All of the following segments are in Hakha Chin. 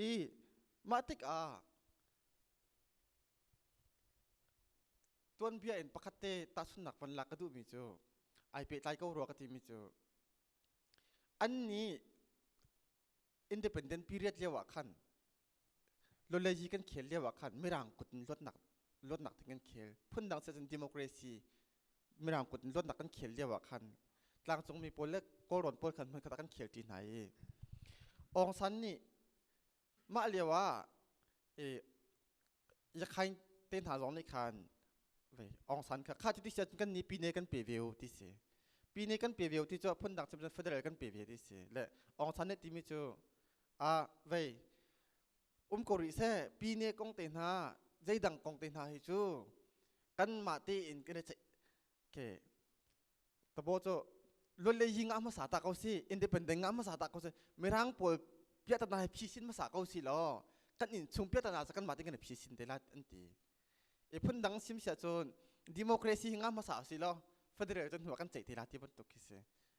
i mah tikah tuanbia in pakhat te tahchunnak van lak ka duhmi cu ai pehtlai ko rua ka timi cu an nih independent period lio ah khan lolleji kan khel lio ah khan mirang kut in luatnak luatnak ding kan khel phundang siah cun democracy mirang kut in lonnak kan khel lio ah khan tlangcung mi pawl le kawlrawn pawl khan hmun khat ah kan khel ṭi hna i Aung San nih mah lio ah i yakhain te hna zong nih khan Aung San kha kha ti sian kan ni pine kan pe ve u ti si pine kan pe ve u ti cu phundang cim federal kan pe ve ti si le Aung San nih timi cu a vei um ko rih seh pine kong te hna zeidang kong te hna hi cu kan mah te in kan i okay tabo cho luan le ying ah hmasa ta ko si independent ah hmasa ta ko si mirang pawl pia ta na phi sin hmasa ko si lo kan in chung pia ta na kan ma te kan phi sin te la an ti e phun dang sim sia chun democracy hinga hmasa si lo federal chun hua kan chei te la ti ban tuk ki se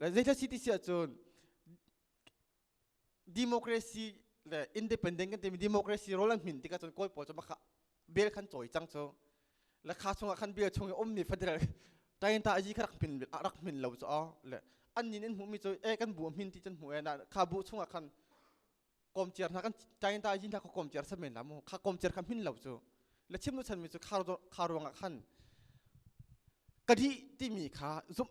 Zeicah si ti si ahcun democracy le independent kan timi democracy rol an min tikah cun kawi pawl cu makha bel khan cawi cang cu le kha chungah khan bel chung i ummi federal tayinta aji kha rak min rak min lo cu aw le an nin in hmuhmi cu e kan bu min ti cun hmu e na kha bu chungah khan komciar hna kan tayinta aji hna kha komciar samen la mu kha komciar kha min lo cu le chimnu chanmi cu kha ruangah khan kadi timi kha zumh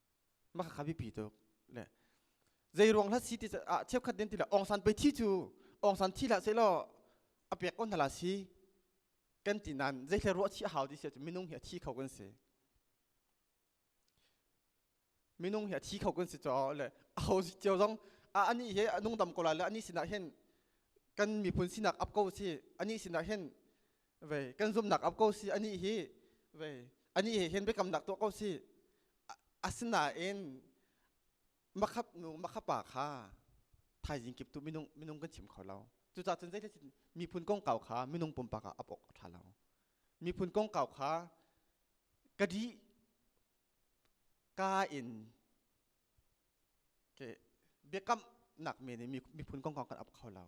maka kha bipi tuk le zei ruang hlat si ti ah cheukhat den tila ong san pe thi cu ong san thi la se lo apek on hala si kan ti nan zei thla ruwa thi hau ti sia minung hi a thi kho kan se minung hi a thi kho kan se cho le a ho si cheu zong a ani he anung dam ko la le ani sinak hen kan miphun sinak ap ko si ani sinak hen vei kan zumnak ap ko si ani hi vei ani he hin bekam nak to ko si asinain makhap nu makhapa kha thaizing kip tu minung minung kan chim kho lo cuca cun zei thachin miphun kong kau kha minung pumpak ah ap ok tha lo miphun kong kau kha kadi ka in ke biakam nak me ni miphun kong kau kan ap kho lo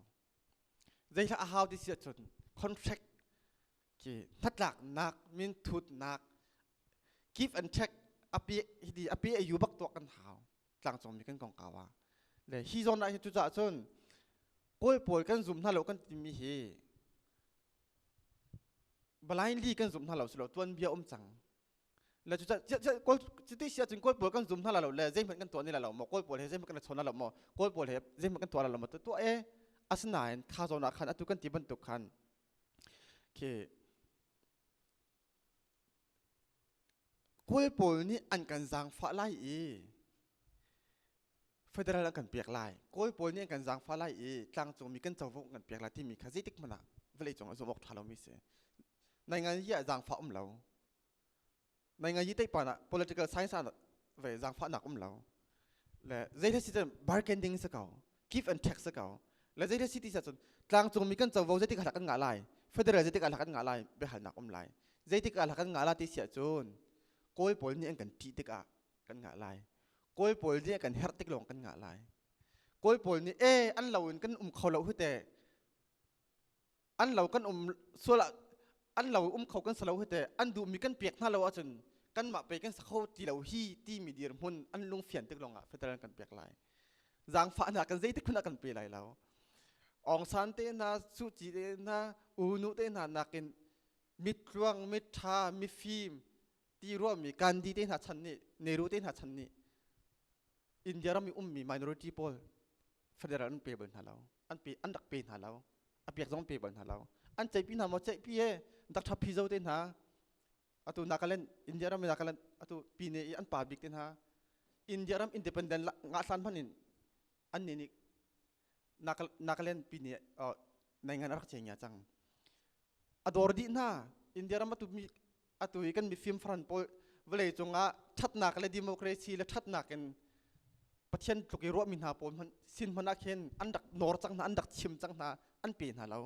Zeihlah a hau ti si ahcun contract ki hnatlaknak min thutnak give and take ape hiti ape ayu bak tuak kan hau tlangcung mi kan kongkawa ah le hi zawn ah hi cu caah cun kawl pawl kan zum hna lo kan timi hi blind li kan zum hna lo si lo tuan bia um cang le cu cuti si ahcun kawl pawl kan zum hna la lo le zeihmanh kan tuah ni la lo maw kawl pawl he zeihmanh kan chawn la lo maw kawl pawl he zeihmanh kan tuah la lo maw tuah e asinain tha zawn ah khan atu kan ti bantuk khan khi kawl pawl nih an kan zaangfah lai i federal an kan pek lai kawl pawl nih an kan zaangfah lai i tlangcungmi kan covo an kan pek lai timi kha zeitik hmanh ah vawlei cung ah zum awk ṭha lomi si nai ngan hi ah zaangfah um lo Mai ngai yi teipar ah political science ah ve zangfahnak um lo. Le zeithil si cun bargaining se kau, give and take se kau. Le zeithil si ti sa cun tlangcung mi kan covo zeitik alak kan ngah lai, federal zeitik alak kan ngah lai behalnak um lai. Zeitik alak kan ngah lai ti sia cun kawi pawl nih an kan ṭih tikah kan ngah lai. Kawi pawl nih kan herh tik lawng kan ngah lai. Kawi pawl nih eh an lo in kan um kho lo hute an lo kan um sual ah an lo um kho kan salo hite an duhmi kan pek hna lo ahcun kanmah pei kan sakho ti lo hi timi dir hmun an lung fian tik longah federal kan pek lai zangfahnak kan zeitik khun ah kan pe lai lo ong san te hna su ci te hna unu te hna nakin mit tluang mit tha mi fim ti ruami gandhi te hna chan nih nehru te hna chan nih india ram i ummi minority pawl federal an pe bal hna lo an pe an rak pe hna lo a piak zong pe bal hna lo an ceihpi hna maw ceihpi he dak thap phi zo te hna atu nakaland india ram nakaland atu pine i an pa bik te hna india ram independent nga san hman in an ne ni nakaland pine nei ngan rak cheng ya chang ador di hna india ram atu mi atu hi kan mifim faran pawl vawlei cungah ṭhatnak le democracy le ṭhatnak in pathian tluk i ruahmi hna pawl hmanh sin hmanh ah khin an rak nor cang hna an rak chim cang hna an pe hna lo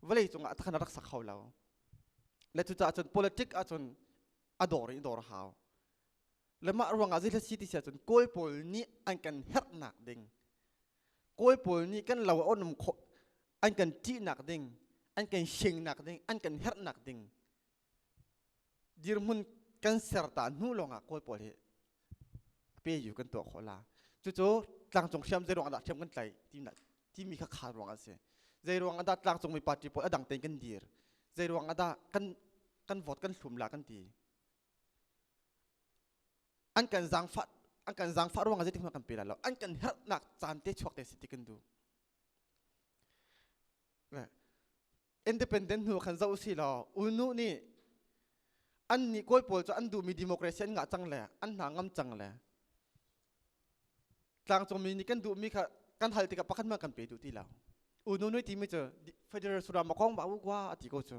vawlei cungah atha khan rak sak hau lo le cucaah cun politic ahcun a dor i dor hau le mah ruangah zeitlai si ti si ahcun kawl pawl nih an kan herhnak ding kawl pawl nih kan lo a onum khawh an kan ṭihnak ding an kan shengnak ding an kan herhnak ding dirhmun kan serta hnu lawngah kawl pawl hi pe yu kan tuah khawh la cucu tlangcung hriam zei ruangah dah hriam kan tlai tinak timi kha khal ruang an si zei ruangah dah tlangcung mi party pawl adang tein kan dir zei ruangah dah kan kan vote kan hlum la kan ti an kan zangfah an kan zangfah ruangah zeitik hmanh kan pe la lo an kan herhnak caan te chuak te si ti kan du independent hnu khan zoh si law unu nih an nih kawi pawl cu an duhmi democracy an ngah cang le an hna ngam cang le tlangcungmi nih kan duhmi kha kan hal tikah pakhat man kan pe duh ti lo unu nui timi cu federal suram a kong ba u kwa a ti ko cu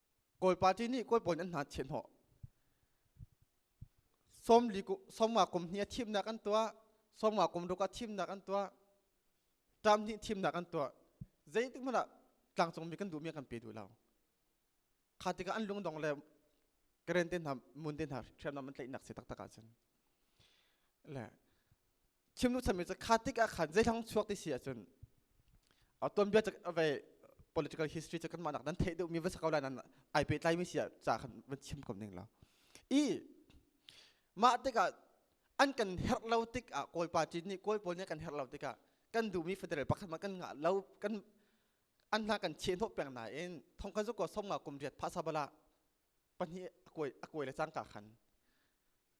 kawl party nih kawl pawl an hna thian hawh somli somwa kum hnih a thimnak an tuah somwa kum ruk a thimnak an tuah tam hnih thimnak an tuah zeitik hmanh ah tlangcungmi kan duhmi kan pe duh lo kha tikah an lungdong le karen te hna mun te hna hriamnam an tlaihnak si taktak ahcun le chimnu chanmi cu kha tik ah khan zeitlang chuak ti si ahcun ton bia ve political history cu kan mah nak nan theih deuh mi va sakau lai nan ai pe tlai mi sia ca khan van chim kom ding lo i mah tikah an kan herh lo tik ah kawi party nih kawi pawl nih kan herh lo tikah kan duhmi federal pakhat ma kan ngah lo kan an hna kan cheh hnawh peng nain thong kan ko som nga kum riat phasa bala pahnih a kuai a kuai le cang ka khan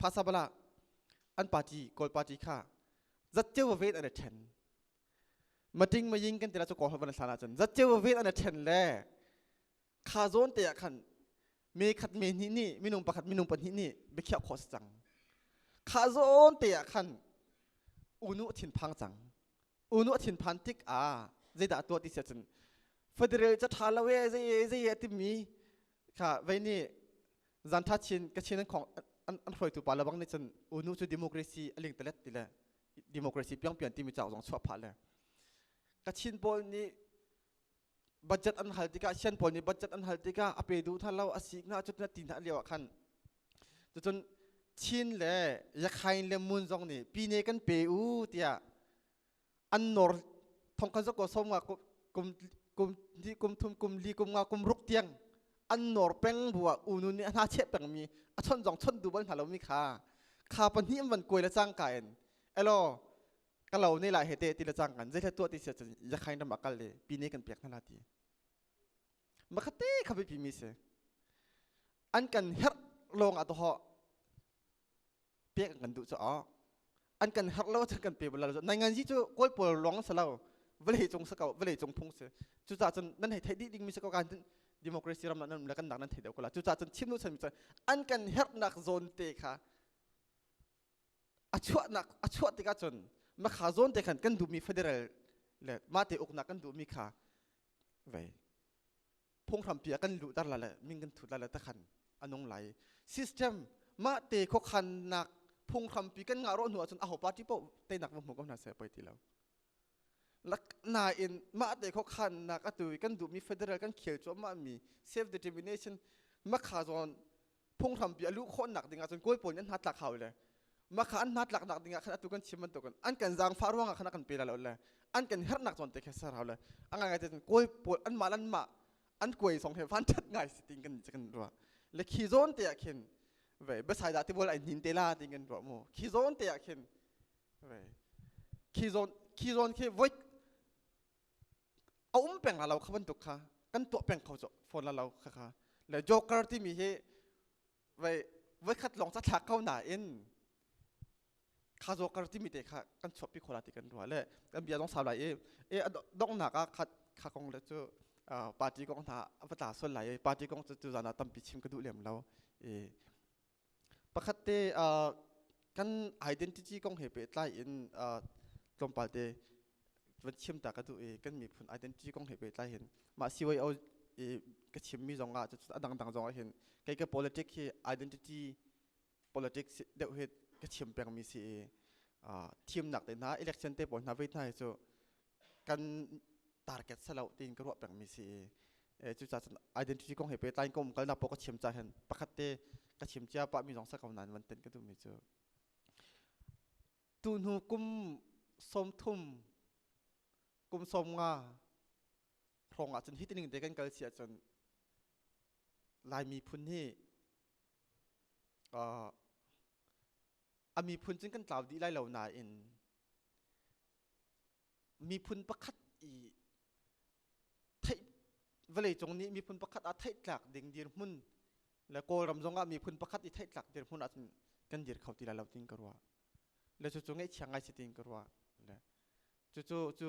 phasabala an party kawl party kha zatceu vaved an ṭhen mating maying kan tila chu ko van thlan ahcun zatceu vaved an ṭhen le kha zawn te ah khan me khat me hnih nih minung pakhat minung pahnih nih biakhiak kho cang kha zawn te ah khan unu thin phang cang unu thin phan tik ah zeidah tuah ti sia cun federal ca ṭha lo e zei e zei e timi kha vei ni zan tha chin ka chin an khong an an hroitu pa labang ni cun unu cu democracy aling talet tile democracy piang pian timi chak zong chuah pha le ka chin pawl ni budget an hal tikah sian pawl nih budget an hal tikah a pe du tha lo asik na chut na ti na liawa khan cun chin le yakhain le mun zong nih pine kan pe u tiah an nor thong khan ko som nga kum kum kum thum kum li kum nga kum ruk tiang an nor peng bua unu nih hna che peng mi a chon jong chon du ban hna lo mi kha kha pahnih man koi la chang ka en elo ka lo ne la hete ti la chang kan zai tua ti se chan ya khain ram akal le pi ne kan pek na la ti ma khate kha bi pi mi se an kan her long a to ho pek kan duh cu awk an kan harh lo cun kan pe bal lo nai nganzi cu kawl pawl lawng sa lo vale cung sa ko vale cung phung si cucah cun nan hei theih dih ding mi si ko kan democracy ram nan le kan dak nan thei deuh ko la cucah cun chim nu chan mi cun an kan herhnak zone te kha a chuahnak a chuah tikah cun ma kha zone te khan kan duhmi federal le ma te uknak kan duhmi kha vei phunghrampi ah kan luhter la le min kan thut la le takhan anung lai system mah te khokhannak phunghrampi kan ngah ro hnu ahcun aho party po teinak va hmu ko hna se poi ti lo nain mah te khokhannak atu kan duhmi federal kan khel cuahmah mi self determination makha zawn phunghrampi a luh khawhnak ding ahcun kawi pawl nih an hna tlak hau le makha an hna tlaknak ding ah khan atu kan chim bantukin an kan zaangfah ruangah khan kan pe la lo le an kan herhnak zawn te kha ser hau le a ngai ngai te kawi pawl an mah an mah an kuai song he vanṭhat ngai si ting kan kan ruah le khi zawn te ah khin ve besai da ti bol ai nin te la ting kan ruah mu khi zawn te ah khin ve khi zawn khi zawn khi voi a um peng la lo kha bantuk kha kan tuah peng kho cu phone la lo kha kha le joker timi hi vei voikhat lawng ca thlak ko nain kha joker timi te kha kan chuahpi khola ti kan rua le kan bia zong sau lai i e donghnak ah kha kha kong le cu party kong hna a va tla sual lai i party kong cu cu zan ah tampi chim ka duh lem lo i pakhat te uh, kan identity kong he pehtlai in uh, tlawmpal te van chiam ta ka tu i kan miphun identity kong he pehtlai hin ma CYO i ka chim mi zong ah a dang dang zong ah hin kai ka politic hi identity politics deuh hi ka chim peng mi si i uh, thim nak te hna election te pawl hna ve hna hi cu kan target selo tiin ka ruah pengmi si e cucaah cun identity kong he pe tain kom kalnak po ka chiam ca hen pakhat te ka chim cia pa mi zong sa ko nan van ten ka duhmi cu tu hnu kum som thum kum som nga rong ah cun hitining te kan kal si ahcun lai miphun hi uh, a miphun cun kan tlau dih lai lo nain miphun pakhat i theih vawleicung nih miphun pakhat ah theihtlak ding dirhmun le kawlram zongah miphun pakhat i theihtlak dirhmun ahcun kan dir kho ti lai lo tin ka ruah le cucu ngaihchiang ngai si tin ka ruah le cucu cu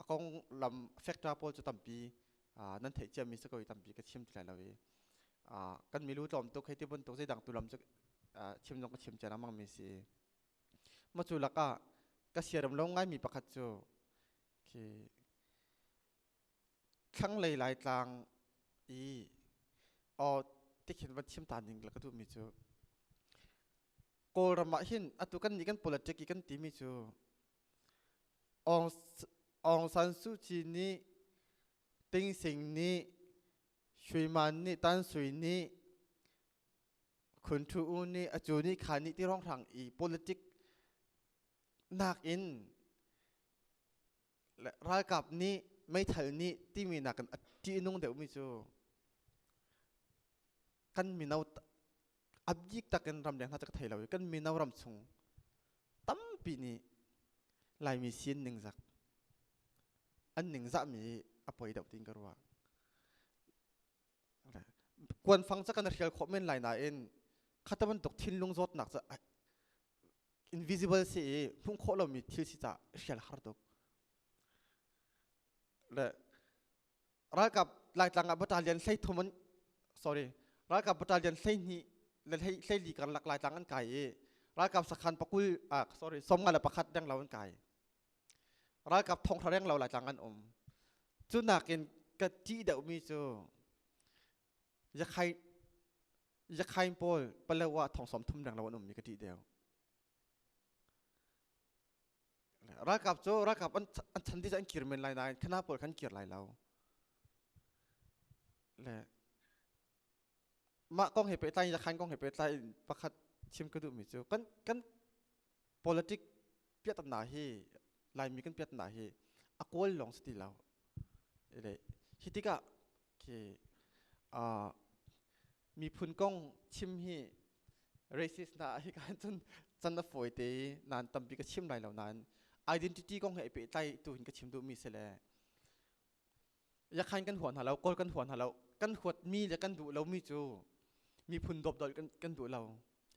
a kong lam factor pawl cu tampi nan theih ciammi si ko i tampi ka chim ti lai lo i kan milu tlawm tuk hei ti bantuk zeidang tu lam cu chim zong ka chim cian ammangmi si Maw cu lakah ka siaram lo ngaimi pakhat cu khi thlanglei laitlang i aw tikhin van chim ta ning la ka duhmi cu Kawlram ah hin atu kan nih kan politic i kan timi cu Aung Aung San Suu Kyi nih Ting Sing nih Shui Man nih Tan Sui nih Khunthu U nih a cu ni kha ni ti ronghrang i politic nakin ralkap nih meithal nih timi nakin a ṭihnung deuhmi cu kan mino a bik takin ramleng hna cu ka thei lo i kan mino ram chung tampi nih Laimi sin ningzak an ningzahmi a poi deuh ti'n ka ruah. kuanfang ca kan hrial khawh men lai nain khata bantuk thinlung zawtnak ca invisible si i hmuh khawh lomi thil si ca hrial har tuk le ralkap laitlang ah battalion hlei thum an sorry ralkap battalion hlei hni le hlei hlei li karlak laitlang an kai i ralkap sakhan pakul ah sorry sawmnga le pakhat deng lo an kai ralkap thongthla reng lo laitlang an um cu nakin ka ṭih deuhmi cu yakhain yakhain pawl palo ah thongsawm thum reng lo an ummi ka ṭih deuh ralkap cu ralkap an an chan ti cu an kir men lai nain khana pawl khan kir lai lo le mah kong he pehtlai in yakhain kong he pehtlai in pakhat chim ka duhmi cu kan kan politic piatatnak hi laimi kan piatatnak hi a kual lawng si ti lo ile hi tikah khi uh, miphun kong chim hi racist na hi kan cun chan na foi te nan tampi ka chim lai lo nan identity kong he pe tlai tu hin ka chim du mi se le yakhan kan huat hna lo kawl kan huat hna lo kan huat mi le kan duh lo mi cu miphun dawpdolh kan kan duh lo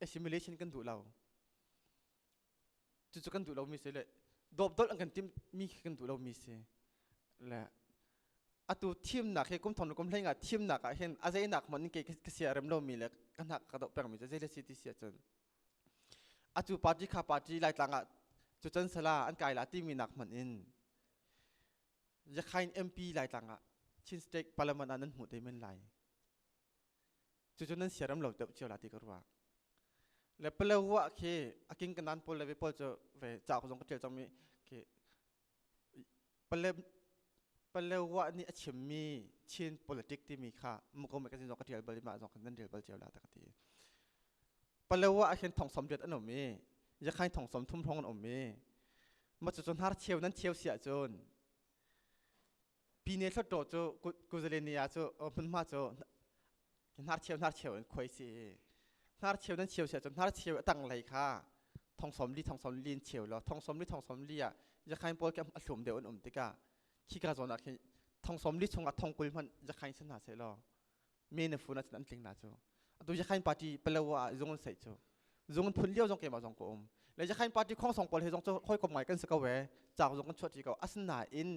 assimilation kan duh lo cucu kan duh lo mi si le dawpdolh an kan tim mi khi kan duh lo mi si le atu thimnak he kum thong le kum hlei nga thimnak ah hin azeinak mon ke ka sia rem lo mi le ka hnak ka dok peng mi cu zei le si ti sia cun atu party kha party laitlang ah cucun sala an kai la ti mi nak man in Yakhain MP Laitlang ah Chin State Parliament ah nan hmuh te men lai. Cucu nan siaram lo deuh cio la ti ka ruah. Le Palehua khi a king kanan pawl le ve pawl cu ve caa zong ka ṭial cangmi khi Pale Palehua nih a chimmi Chin politic timi kha muko me ka sin zong ka ṭial bal i mah zong kan nan ṭial bal cio la ta ka ti. Palo ah ahhin thongsawm riat an um i yakhain thongsawm thum hrawng an um i macu cu hnar cheu nan cheu siah cun pine hluttaw cu kuzalenia cu hmunhma cu hnar cheu hnar cheu in khuai si i hnar cheu nan cheu siah cun hnar cheu a tanglei kha thongsawm li thongsawm li in cheu law thongsawm li thongsawm li ah yakhain pawl ke a thlum deuh an um tikah khi ka zawn ah khin thongsawm li chung ah thongkul hmanh yakhain si hna seh law me na phun an tling na cu atu yakhain party palo a zung an sei cu zung an phun lio zong keimah zong ko um le yakhain party khong song pawl he zong cu hoi kom ngai kan si ko we chak zong kan chuat ri ko asna in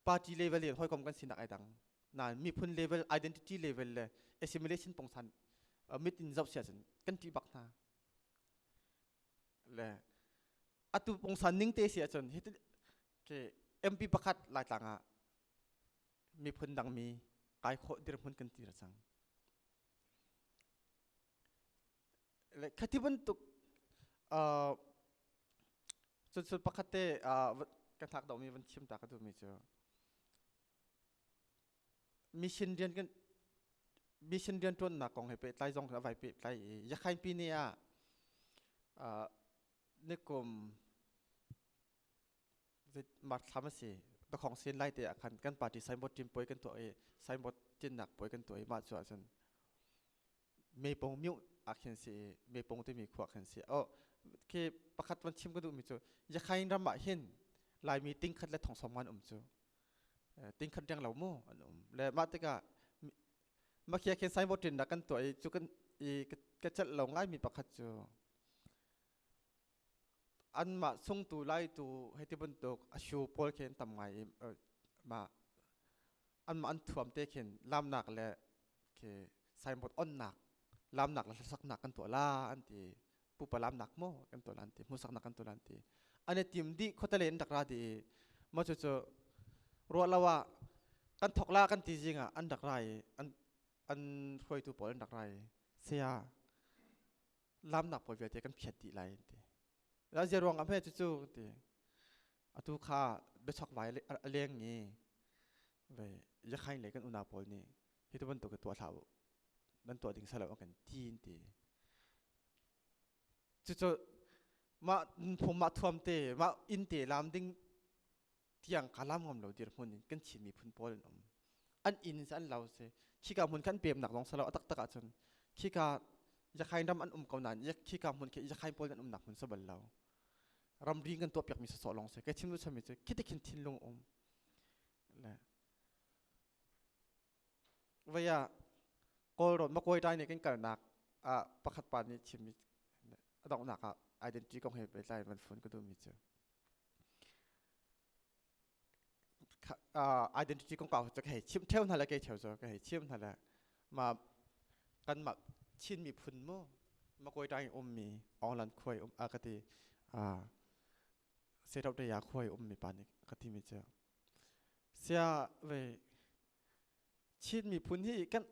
party level in hoi kom kan sinak ai dang na miphun level identity level le assimilation pongsan mit in zau sia sin kan ti bak na le atu pongsan ning te sia chun hit ke mp pakhat lai tlang a miphun dangmi kai khawh dirhmun kan tir cang le khati bantuk uh, cunsul pakhat te uh, kan thak dawmi van chim ta ka tu mi cu mission rian kan mission rian tuan na kong he pe tlai zong ka vai pe tlai i yakhain pi ne a uh, nikum Mark thlam a si. Pakhong sin lai te ah khan kan party signboard ṭim puai kan tuah i signboard tinhnak puai kan tuah i mah cu ahcun meipong miuh ah khin si i meipong timi khua khan si. Oh, khi pakhat van chim ka duhmi cu Yakhain ram ah hin Laimi tingkhat le thongsawm an um cu. Tingkhat riang lo mu an um. Le mah tikah makia khin signboard ṭinnak kan tuah i cu kan i ka celh lo ngaimi pakhat cu anmah sungtu laitu hei ti bantuk a shu pawl khin tam ngai i mah anmah an thuam te khin lamnak le khi signboard onnak lamnak le hlasaknak kan tuah la an ti pupa lamnak mo kan tuah la an ti hmusaknak kan tuah la an ti ane tim di khotale in rak ra di ma chu chu ro lawa kan thok la kan ti zinga an rak rai an an hruaitu pawl an rak rai sia lamnak puai vialte kan khiat dih lai ti ra zia ruang ah hme cu cu ti atu kha biachok vai a leng i ve yakhain le kan una pawl nih hi tu bantuk tuah hlah u nan tuah ding salo kan tin ti cu cu mah phum mah thuam te mah inn te lam ding tiang ka lam ngam lo dirhmun in kan thim miphun pawl an um an inn in an lau si khika hmun kan pemnak lawng salo atak tak ahcun khika yakhain ram an um ko nain yak khika hmun ke yakhain pawl an umnak hmun sabal lo ramri kan tuah piak mi soso long se ke thin lu chami chu khiti khin thin lung um le Vai ah Kawlrawn Makuai ṭai nih kan kalnak ah pakhat pa nih chimmi a donghnak ah identity kong he pehtlai in van phun ka duhmi cu. identity kong pa cu ka hei chim theo hna le kei theo zo ka hei chim hna le ma kanmah Chin miphun mu Makuai ṭai in ummi Onglan khuai um a ka ti uh, Seṭauṭaya khuai ummi pa nih ka timi cu Sia ve Chin miphun hi kan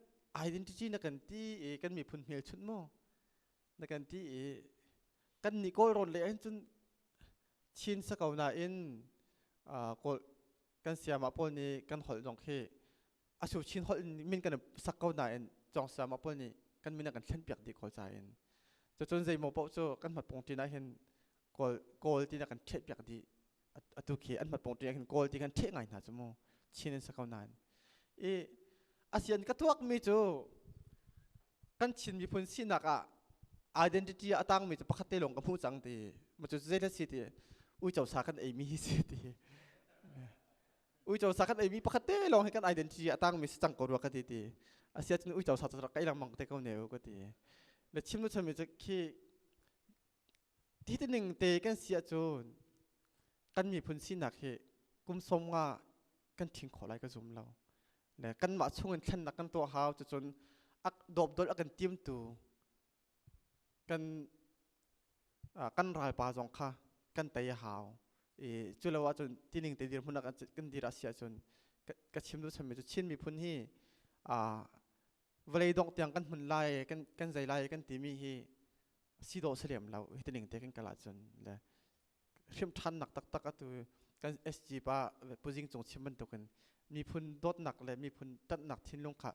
identity na kan ti i kan miphun hmelchunh maw na kan ti i kan nih kawl rawn le hin cun Chin sa ko nain kawl kan siama pawl nih kan holh zong khi asu Chin holh min kan sak ko nain cawng siama pawl nih kan min a kan thlen piak dih ko ca in cucun zeimaw paoh cu kan hmat pungṭin ah hin kawl kawl ti na kan ṭheh piak dih atu khi an mat pong ṭi khin kawl ti khan ṭheh ngai hna cu mu chin an sa ko nain i asian ka tuak mi cu kan chin miphun sinak ah identity a tangmi cu pakhat te lawng ka hmu cang ti ma cu zeilet si ti uico sa kan ei mi hi si ti uico sa kan ei mi pakhat te lawng hi kan identity a tangmi si cang ko rua ka ti ti asian cun uico sa cu rak kai lang mang te ko ne u ka ti le chim nu chami cu khi ti tining te kan si ahcun kan miphun sinak hi kum som nga kan thing khawh lai ka zum lo ne kanmah chungin thlennak kan tuah hau cucun ak dopdol a kan tiamtu kan kan ralpa zong kha kan tei a hau i culo ahcun tining te dir hmun kan dir a si ahcun ka chim du sammi cu Chin miphun hi vawlei dongh tiang kan hmun lai kan kan zei lai kan timi hi si dawh si lem lo hi tining te kan kal ahcun le hrim ṭhannak taktak atu kan SG pa puzing cung chim bantukin miphun dawtnak le miphun tanhnak thinlung kha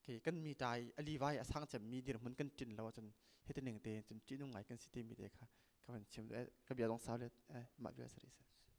ke kan mi tai ali vai asang cem mi dir mun kan tin lo cun hi tining te cun ṭihnung ngai kan si timi te kha ka van chim ka bia dong sau le ma bia sari sa